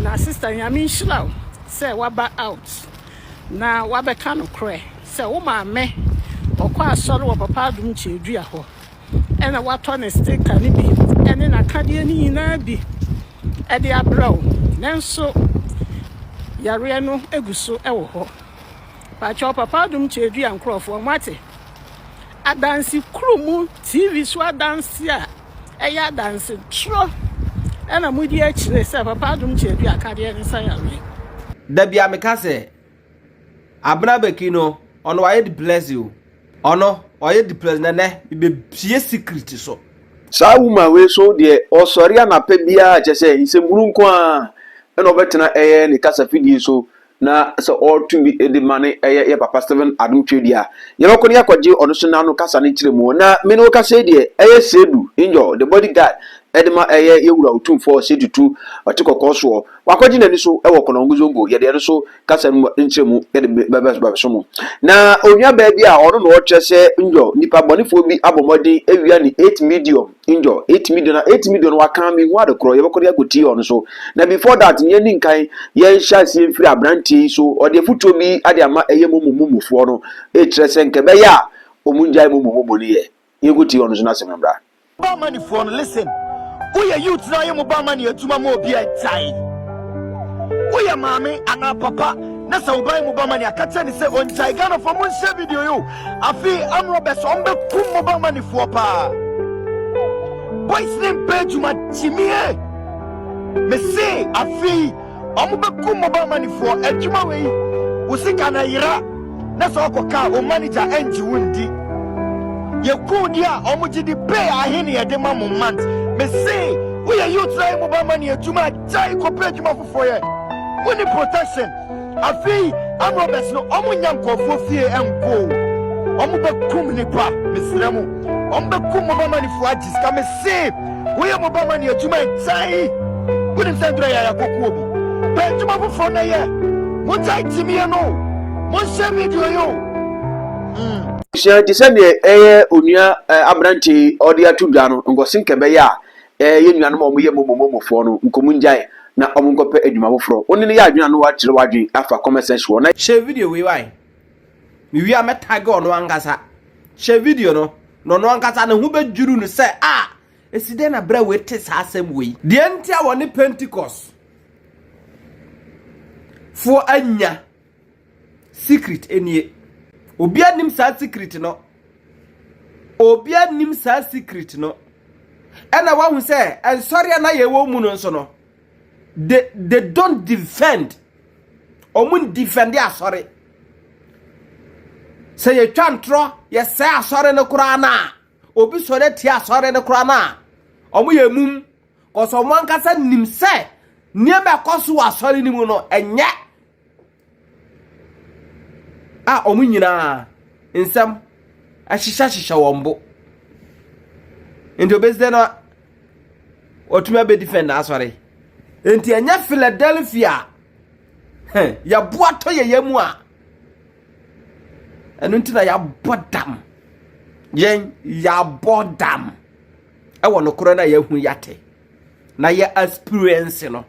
Na sister nyame nhyira wo sɛ waba out na wabɛka nokorɛ sɛ wo maame ɔkɔ asɔre wɔ papa adom kyiadua hɔ ɛna watɔ ne sticker no bi ɛne nakadeɛ no nyinaa bi ɛde abrɛ wo nanso yareɛ no egu so ɛwɔ hɔ pakyɛw papa adom kyiadua nkorɔfoɔ moate adanse kuro mu tv so adanse a ɛyɛ adanse toro na mudi akyire sɛ Papa Adom Kyɛ Adu akadeɛ ne sa yareɛ. Da bia meka sɛ Abena Beki no ɔno wayɛ depressed o ɔno ɔyɛ depressed na nɛ mebɛpie secret so. Saa woman wei so deɛ ɔsɔre anapa biara kyɛsɛ nsɛmhunu nko ara na ɔbɛtena ɛyɛ ne kasafidie so na sɛ ɔreto bi de ma ne ɛyɛ yɛ papa Stephen Adom Twedi a, yɛbɛkɔ na yɛakɔgye ɔno nso n'ano kasa ne nkyerɛmu. Na me ne wo kasa yi deɛ, ɛyɛ Sedu Injɔɔ, the body guard, de ma ɛyɛ yɛ Wura Otumfoɔ Sedu Tutu ɔte kɔkɔɔ soɔ. Wakɔgye n'ani so wɔ Konongo Zongo. Yɛde ɛno nso kasa no mu nkyerɛmu de bɛbɛso mo. Na onuabaa bi a ɔno na ɔkyerɛ sɛ Injɔɔ, nnipa bɔnefoɔ bi abɔ mmɔden awia ne 8 Medium. angel etumi de na etumi de no wakan mi hu ade korɔ yɛbɛkɔ de akɔ tii ɔno so na before that yɛn ni nkan yɛn hyɛ aseɛ mfiri aberanteɛ yi so ɔde afutuo bi ade ama ɛyɛ momo momofoɔ no ekyerɛ sɛ nkɛ bɛyɛ a ɔmo ngyae momo momo no yɛ yɛn kɔ tii ɔno so na asɛm no mbra. Barmani foɔ no listen woyɛ youth na ayɛ mo barmani adwuma ma obi a gyae woyɛ maame anaa papa na sɛ woba yɛ mo barmani a ka kyerɛ ne sɛ ɔngyae Ghana foɔ monhyɛ video yi o Afei amrɔ bɛ sɛ ɔmo bɛ kum mobile money foɔ paa boys ne mpɛ adwuma gyimie me se afei ɔmo bɛ kum mobile money foɔ adwuma wei wo sika na yera na sɛ ɔkɔ kaa o manager ɛngye wo ndi yɛ kun di a ɔmo gye di pay ahene yɛ de ma mo month me se wo yɛ youth na yɛ mobile money adwuma gyae kɔpɛ adwuma fofoɔ yɛ wo ni protection Afei Amorobɛs no ɔmo nnya nkɔɔfoɔ fie nkɔ o ɔmo bɛ kum nipa mesrɛ mo ɔmo bɛ kum mo bamanifoɔ agye sika mese woyɛ mo bamani adwuma ɛgyae wonim sɛ ndura yaya kɔku obi pɛ adwuma foforɔ na yɛ mo gyae gyimie no mo nhyɛ video yi o mm. Sua te sɛ deɛ ɛyɛ onua aberanteɛ yi ɔde ato dwa no nkɔse nkɛbɛyɛ a eh, yɛn nuanom a wɔyɛ momomomofoɔ no, nkɔmu ngyae na wɔn nkɔpɛ adwuma foforɔ. Wo ne no yɛ adwene a na woakyerɛ w'adwene afa comment section hɔ na. Hyɛ video wei wae. Me wie a mɛ tag ɔno ankasa. Hyɛ video no na ɔno ankasa ne ho bɛ dwiru no sɛ ah esi dɛn na brɛ wei te saa asɛm wei. Deɛ nti a wɔne Pentecost foɔ anya Secret nie. Obia nim saa secret no. Obia nim saa secret no. Ɛna wahu sɛ ɛnsɔre a na yɛwɔ mu no nso no. They, they don't defend. Wɔn defend asɔre. Sɛ yɛtwa ntorɔ yɛsɛ asɔre no koraa no a, obi sɔre atia asɔre no koraa no a, wɔn yɛ mum. Kɔsɔ wɔn ankasa nim sɛ nneɛma ɛkɔ so wɔ asɔre no mu no ɛnyɛ a wɔn nyinaa nsɛm ahyehyɛhyehyɛ wɔn bo. Nti obesi dɛ na ɔtumi abɛdifɛn n'asɔre. Nti ɛnyɛ Philadelphia yɛboatɔ yɛyɛ mu a ɛno nti na yɛabɔ dam. Yɛn yɛabɔ dam ɛwɔ nokorɛ no a yɛahu yɛate na yɛ experience no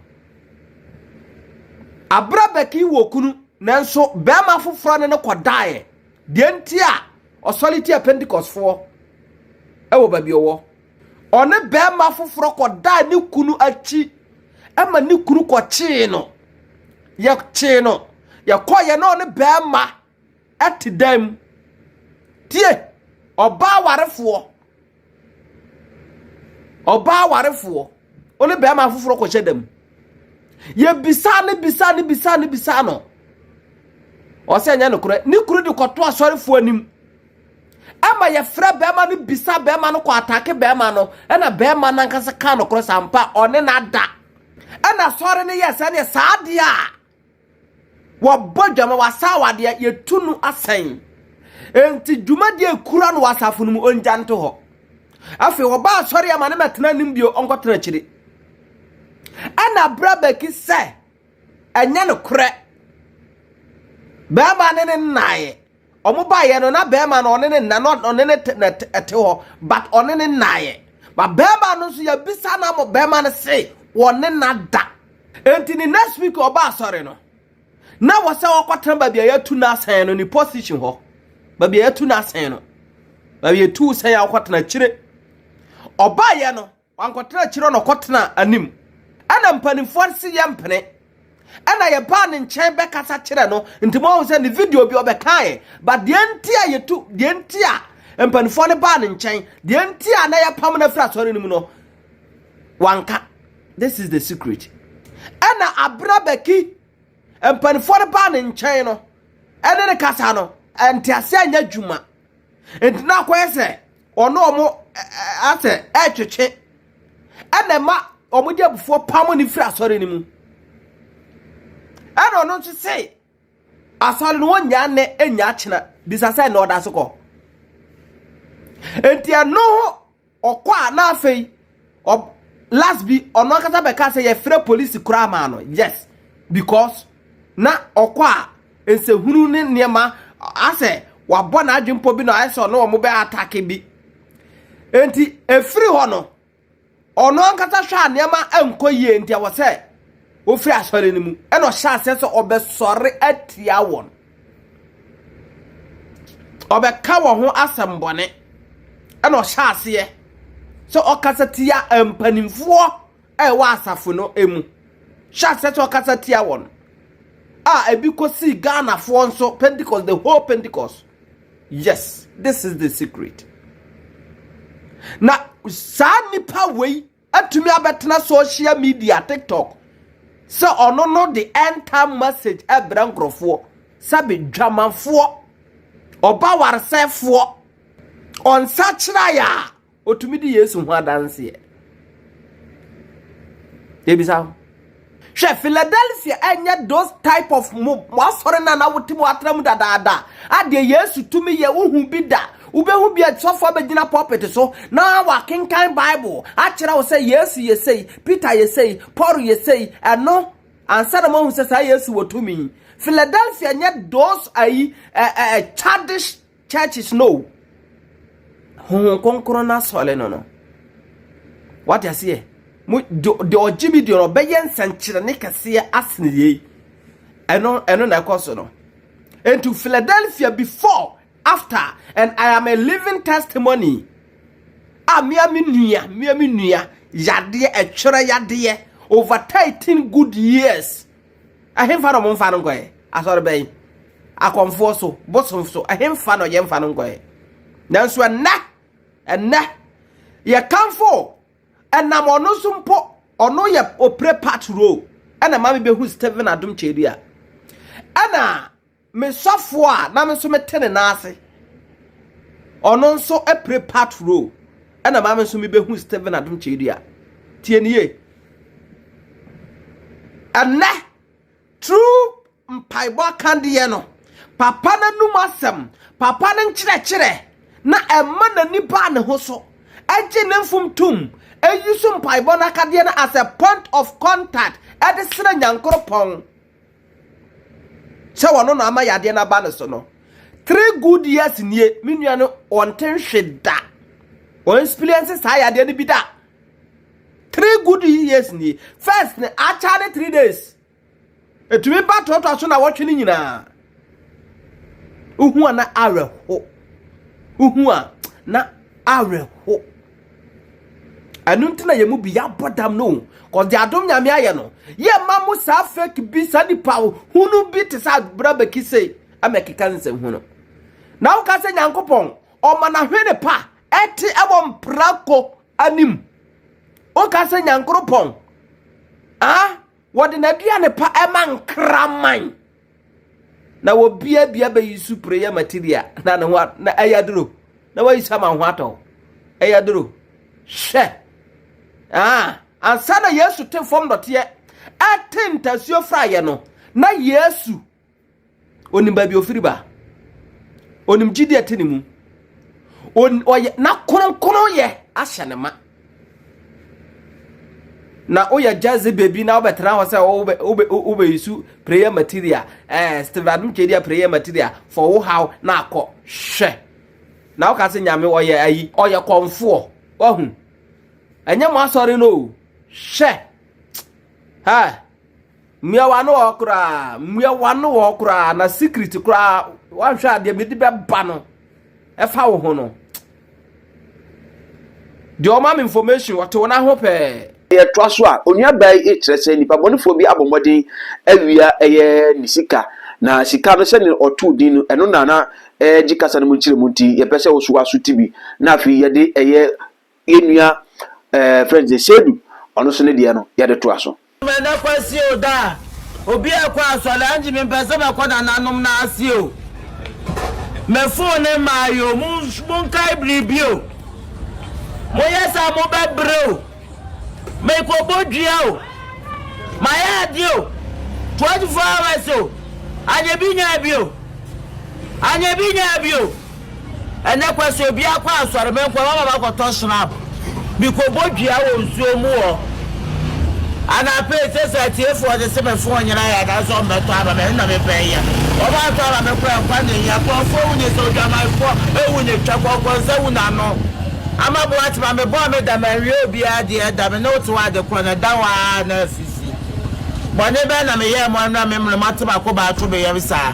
Aberɛ Becky wɔ kunu nanso barima foforɔ ne no kɔdaeɛ. Deɛ nti a ɔsɔre tia Pentecostfoɔ wɔ baabi ɔwɔ. Ɔne barima foforɔ kɔdaa ne kunu akyi ma ne kunu kɔkyee no. Yɛkyee no, yɛkɔeɛ na ɔne barima te dan mu. Tie, ɔbaa warefoɔ, ɔbaa warefoɔ, ɔne bɛrima foforɔ kɔhyɛ da mu. Yɛbisaa ne bisaa ne bisaa ne bisaa no. Ɔsɛ nyɛ nokorɛ. Ne kunu de kɔto asɔrefoɔ anim. Ɛma yɛfrɛ bɛrima no bisa bɛrima no kɔ atake bɛrima no. Ɛna bɛrima no ankasa kaa nokorɛ sampa ɔne no ada. Ɛna asɔre no yɛ sɛdeɛ saa adeɛ a. Wɔbɔ dwam a wɔasa awadeɛ a, yɛtu no asɛn. Enti dwumadie a ɛkura no wɔ asafo no mu, ɔngya nto hɔ. Afei wɔba asɔre a ma no mɛtena anim bio, ɔnkɔtena akyire. Ɛna abrɛ bɛki sɛ ɛnyɛ nokorɛ. Bɛrima ne ne nnaeɛ. Ɔmo baeɛ no na bɛɛma no ɔne ne na na ɔne ne te na te ɛte hɔ but ɔne ne naeɛ but bɛɛma no nso yɛbisa na mo bɛɛma no se wɔne na da enti ne next week ɔba asɔre no na wɔ sɛ ɔkɔ tena baabi a yɛtu no asɛn no ne position hɔ baabi a yɛtu no asɛn no baabi yɛtu sɛn a ɔkɔ tena akyire ɔbaeɛ no Wankɔtena akyiri hɔ na ɔkɔtenaa anim. Ɛnna mpanimfoɔ no se yɛmpene. Ɛnna yɛbaa ne nkyɛn bɛkasa kyerɛɛ no, nti moahu sɛ ne video bi ɔbɛkaeɛ. But deɛ nti a yɛtu, deɛ nti a mpanimfoɔ no baa ne nkyɛn, deɛ nti a na yɛpam no afiri asɔre no mu no, wanka. This is the secret. Ɛnna abere a Bɛki mpanimfoɔ no baa ne nkyɛn no, ɛne no kasa no, nteaseɛ anyɛ adwuma. Enti na akɔyɛ sɛ ɔne wɔn asɛ retwetwe, ɛna ɛma wɔde abufuo pam no firi asɔre no mu. Ɛna ɔno nso se asɔre no wɔnnya nnɛ nnya akyena bisa sɛ na ɔda so kɔ. Enti ɛno ho Ɔkɔ a na afei ɔb last bi ɔno ankasa bɛka sɛ yɛfrɛ polisi koraa maa no yes because na ɔkɔ a nsɛhunu ne nneɛma asɛ wabɔ n'adwene mpo bi na ayɛ sɛ ɔne wɔn bɛ atake bi nti efiri hɔ no ɔno ankasa hwɛ a nneɛma nkɔ yie nti ɛwɔ sɛ ofiri asɔre no mu ɛna ɔhyɛ aseɛ sɛ ɔbɛsɔre atia wɔn. Ɔbɛka wɔn ho asɛmbɔne. Ɛna ɔhyɛ aseɛ sɛ ɔkasa tia mpanimfoɔ a ɛwɔ asafo no mu. Hyɛ aseɛ sɛ ɔkasa tia wɔn a ebi kɔsii Ghanafoɔ nso Pentecost, the whole Pentecost. Yes, this is the secret. Na saa nipa wei atumi abɛtena social media TikTok sɛ ɔno no de end time message ɛbrɛ nkorɔfoɔ sɛbe dwamanfoɔ ɔba waresɛfoɔ ɔnsakyeraɛ a ɔtumi di Yesu ho adanseɛ yɛbisa wo Hwɛ, Philadelphia ɛnyɛ those type of mo mo asɔre na na wote mu atra mu dadaada a deɛ Yesu tumi yɛ wohu bi da. Wobɛhu bi a sɔfo abɛgyina pulpit so na wakenkan Bible akyerɛ wo sɛ Yesu yɛ sei, Peter yɛ sei, Paul yɛ sei, ɛno ansa na moahu sɛ saa Yesu wɔ tumi. Philadelphia nyɛ those ayi ɛɛ ɛɛ childish Churches no o, Honhom Kronkron no asɔre no no, wate aseɛ, mo deɛ ɔgye me deɛ ɔbɛyɛ nsɛnkyerɛnne kɛseɛ asene yei, ɛno ɛno na ɛkɔ so no. Into Philadelphia before, after, and I am a living testimony. A mea me nua, mea me nua, yadeɛ, ɛtwerɛ yadeɛ, over 13 good years, Ɛhemfa na wɔmfa no nkɔɛ? Asɔre bɛn? Akɔmfoɔ so? Bosom so? Ɛhemfa na yɛmfa no nkɔɛ? Nanso ɛnnɛ, ɛnnɛ, yɛkamfo ɛnam ɔno so mpo, ɔno yɛ opre part role ɛna ma mebɛhu Stephen Adom Kyedua ɛna Me sɔfoɔ a na me nso mete ne nan ase, ɔno nso pere patrol, ɛna maa me nso mebɛhu Stephen Adom Kyerɛdua. Tie ne yie. Ɛnnɛ, true mpaebɔ akadeɛ no, papa no anum asɛm, papa no nkyerɛkyerɛ na ɛma n'ani baa ne ho so, ɛgye ne mfom tom, ɛyi so mpaebɔ no akadeɛ no as a point of contact ɛde srɛ Nyankoropɔn. sɛ ɔno na ama yadeɛ no aba no so no three good years nie me nua no ɔnte nhwe da ɔnspiliɛnse saa yadeɛ no bi da three good years nie first no akya ne three days ɛtumi ba toatoa so na wɔtwe no nyinaa Wohu a na awerɛho. Wohu a na awerɛho. Ɛno nti na yɛn mu bi yɛabɔ dam no o. Cause deɛ adom nyame ayɛ no, yɛ ma mo saa fake bi, saa nipa hunu bi te sɛ abira bɛki sei ama ɛkeka nsɛm hunu. Na woka sɛ Nyankopɔn, ɔma n'ahwene pa ɛte ɛwɔ mprako anim. Woka sɛ Nyankoropɔn, ah, wɔde n'aduane pa ɛma nkraman. na wɔbiabia bɛyi su pere yɛ material na ne ho na ɛyɛ aduro na wɔyi sa ma ho atɔ ɛyɛ aduro hwɛ ah ansa na yesu te fam dɔteɛ ɛte ntasuo fra yɛ no na yesu onim baabi ofiri ba onim gyidi ɛte ne mu ɔyɛ na kronkron yɛ ahyɛ ne ma. na woyɛ gyadze beebi na wobɛtsena hɔ sɛ wobɛ wobɛ wobɛyisu prayer material ɛɛ eh, Stephen Adom Twedeɛ prayer material fɔ wo haw na akɔ hwɛ na woka sɛ nyame ɔyɛ ayi ɔyɛ kɔmfoɔ wahu ɛnyɛ mo asɔre no o hwɛ ha. Mmua w'ano hɔ koraa. Mmua w'ano hɔ koraa. Na secret koraa wanhwɛ adeɛ mede bɛba no ɛfa wo ho no. Deɛ ɔma me information ɔte wo n'aho pɛɛ. Yɛtoa so a, onua baa yi rekyerɛ sɛ nnipa bɔnefoɔ bi abɔ mmɔden awia ɛyɛ ne sika, na sika no sɛdeɛ ɔtoo din no, ɛno na na ɛregye kasa no mu nkyerɛmu nti, yɛpɛ sɛ wo nso woasuti bi, na afei yɛde ɛyɛ yɛn nua ɛɛ fɛn sɛ Seydou ɔno nso ne deɛ no yɛde toa so. Meda Kwasi o daa obi a kɔ asɔre angy me mpɛ sɛ mɛkɔ nananom no ase o me fon ne mmae o mo mo nkae biribi o mo yɛ saa mo bɛ brɛ o me kɔ bɔ dua o ma yɛ ade o 24 hours o anyɛ bi nyaa bi o anyɛ bi nyaa bi o. Ɛnnɛ koraa sɛ obi akɔ asɔre, me nkɔmma ma makɔtɔ shrap bi kɔbɔ dua wɔ nsuo mu hɔ. Anapa yi, seesei atiefoɔ de se me fon nyera yɛ anaasɛ wɔn bɛtɔ ama me, ɛno na me pɛ yɛ. Wɔn antɔ ama me koraa nkwa na ehia. Nkurɔfoɔ wu ne sa, odwamanfoɔ ewu ne twa, kɔnkɔnsa wu n'ano. Ama Boatema, me bɔɔ me da, manwie obiara deɛ ɛda me ne wo te hɔ ade korɔ na ɛda hɔ ara na asisi. Bɔne bɛn na me yɛɛ mo ɛno na me mmrɛ mo ate m'akobaa to me yam saa?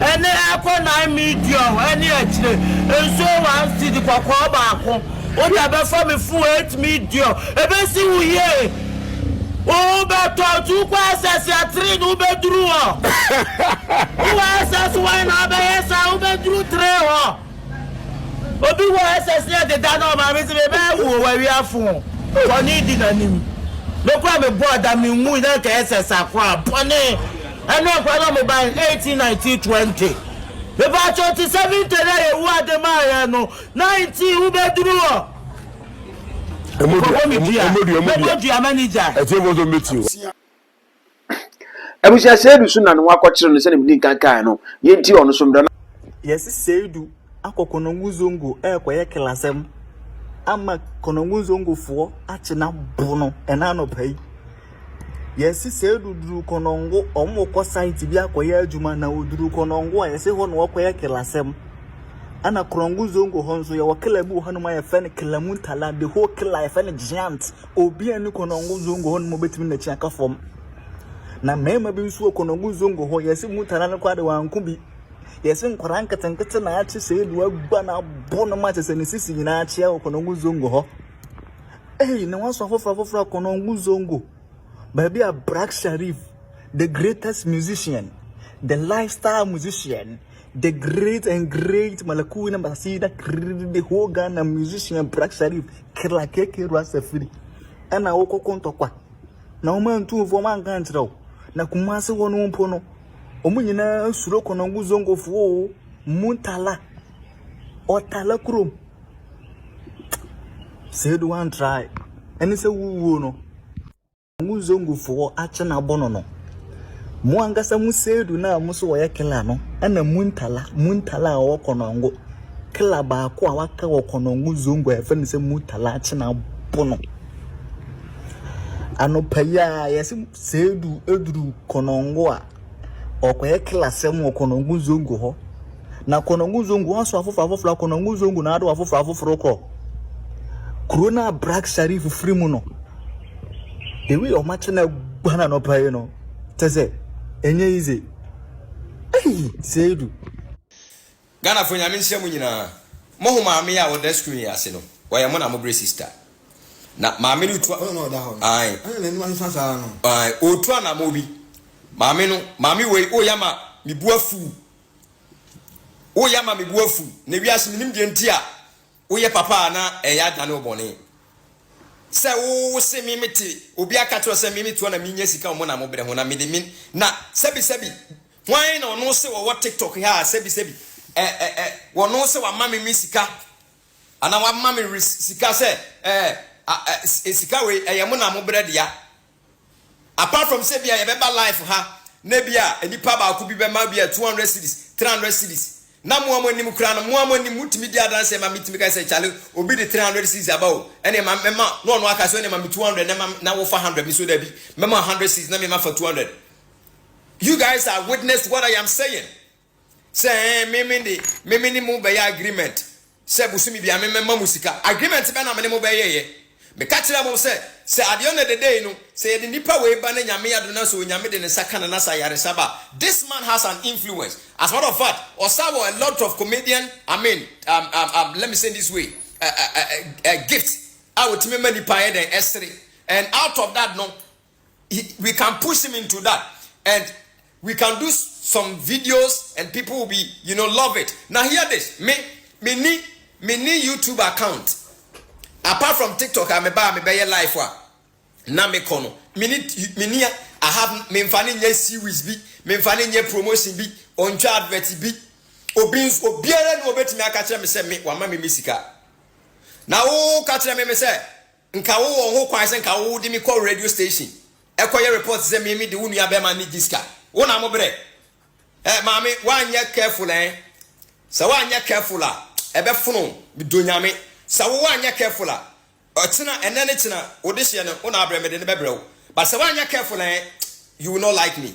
Ɛnne ɛkɔ nine medium ɛne akyire. Nsuo one cedi kɔkɔɔ baako. Wode abɛfa me fon eight medium. Ɛbɛsi wo yie. Wobɛtɔ nti wokɔ SS a three no wobɛduru hɔ. Wowɔ SS one na wobɛyɛ saa wobɛduru three hɔ. Obi wɔ SS ne ɛdeda na ɔmaame sɛ mebɛyɛ wo o wawia fon. Bɔne di n'anim. Me koraa mebɔɔ da menwui na nka SS akoraa. Bɔne. Ɛna nkwa na mo bae eighteen nineteen twenty mepakyɛw te sɛ winter na yehowa de maa yɛn no nineteen wo bɛ duru hɔ. Nkɔbɔ mi dua mɛbɔ dua mɛni gya. Ɛtiɛ fɔ sɔ mbɛ ti o. Abusua seidu so na ne ho akɔkyere no sɛnea medi nkan kae no yɛntie ɔno so mmra na. Yɛse seidu. akɔ Konongo Zongo ɛrekɔyɛ klasɛm ama Konongo Zongofoɔ akye no abo no ɛna anɔpa yi. Yɛse sɛ duduru Konongo, wɔn wɔkɔ site bi akɔyɛ adwuma na wɔduru Konongo a yɛse hɔ na wɔkɔyɛ klasɛm. Ɛna Konongo Zongo hɔ nso yɛwɔ kla bi wɔ hɔnom a yɛfɛ no Klamuntala, the whole kla yɛfɛ no giant. Obi a ni Konongo Zongo hɔnom obetumi n'akyi aka fam. Na mmarima bi nso wɔ Konongo Zongo hɔ yɛse Muntala no koraa de wɔanko bi. Yɛse nkwadaa nketenkete na ate sɛ edu agua na abɔ no ma kyɛ sɛ ne sisi nyinaa akyea wɔ kɔnɔngu zongo hɔ ei ne waso afoforo afoforo kɔnɔngu zongo baabi a black sharif the greatest musician the lifestyle musician the great and great malakuna basida the whole ghana musician black sharif kila keke rasa firi ɛna wokɔkɔ ntɔkwa na wɔn antu wɔn anka nkyerɛ wo na kumase wɔn mpo no Wɔn nyinaa suro Konongo Zongofoɔ o. Muntala. Ɔtala kurom. Sɛ edu one try. Ɛne sɛ wuwuo no. Konongo Zongofoɔ akye no abɔ no no. Mo ankasa mo seedu no a mo so wɔyɛ kila no ɛna Muntala. Muntala a ɔwɔ Konongo. Kila baako a waka wɔ Konongo Zongo a ɛfɛ no sɛ Muntala akye no abɔ no. Anɔpa yi ara, yɛse Seidu duru Konongo a, ɔrekɔyɛ klasɛm wɔ Konongo Zongo hɔ. Na Konongo Zongo aso afoforo afoforo, Konongo Zongo na ado afoforo afoforo kɔ. Kuro no a Brak Sharif firi mu no, the way ɔma kye na agua na anɔpa yi no, kyɛ sɛ, ɛnyɛ easy. Ei, Seidu. Ghana foɔ nyame nhyira mo nyinaa mo ho maame yi a ɔda screen yi ase no ɔyɛ mo na mo brɛ sister na maame no tua ae ae ɔtu anamɔ bi maame no maame wei woyɛ ama me bu afu woyɛ ama me bu afu na wiase menim deɛ nti a woyɛ papa a na ɛyɛ adane wo bɔne sɛ wo wo se me mete obi aka kyerɛ sɛ me metoa na menyɛ sika ɔmo na mo brɛ ho na mede me na sɛbi sɛbi Hwan na ɔno se ɔwɔ tiktok ha a sɛbi sɛbi eh eh eh wɔno sɛ wama me me sika anaa wama me re sika sɛ eh ah eh eh sika wei ɛyɛ mo na mo brɛ dea apart from sɛ bia yɛbɛba life ha na bia nipa baako bi bɛma bia 200 cedis 300 cedis na mo a mo anim kura no mo a mo anim motumi di adanseɛ ma metumi ka sɛ kyale obi de 300 cedis aba o ɛne ma mɛma na ɔno aka sɛ ɛne ma me 200 na ma na wofa 100 me so dabi mɛma 100 cedis na mema fa 200 You guys are witness to what I am saying. Sɛ ɛɛ me me de me me ne mo bɛyɛ agreement sɛ bosome bia me mɛma mo sika. Agreement bɛ na me ne mo bɛyɛɛyɛ. Meka kyerɛɛ mo sɛ sɛ adeɛ ɔnɛ dɛdɛ yi no sɛ yɛde nipa wei ba na Nyame adom na sɛ Onyame de ne nsa ka no na sɛ ayaresa ba a this man has an influence. As a matter of fact ɔsa wɔ a lot of comedian I mean um, um, um, let me say this way uh, uh, uh, uh, gifts a ɔtumi ma nipa yɛ dɛn ɛsere and out of that no he, we can push him into that and we can do some videos and people will be you know love it now hear this me me ni me ni youtube account apart from tiktok a me ba me bɛyɛ life a na me kɔ no me ni me ni i have me nfa ne nyɛ series bi me nfa ne nyɛ promotion bi ɔntwa advert bi obi nso obiara ni obetumi aka kyerɛ me sɛ me wama me me sika na wo ka kyerɛ me me sɛ Nka wo wɔ ho kwan sɛ nka wo de me kɔ radio station ɛkɔ yɛ report sɛ me me de wo nua bɛɛma ne di ska wo na mo brɛ eh maame wanyɛ careful eh sɛ wanyɛ careful a ɛbɛ fono me do nyame sɛ wo wanyɛ careful a ɔkyena ɛnɛ ne kyena wo de hyɛ no wo na abrɛ me de no bɛbrɛ wo but sɛ wanyɛ careful eh you will not like me.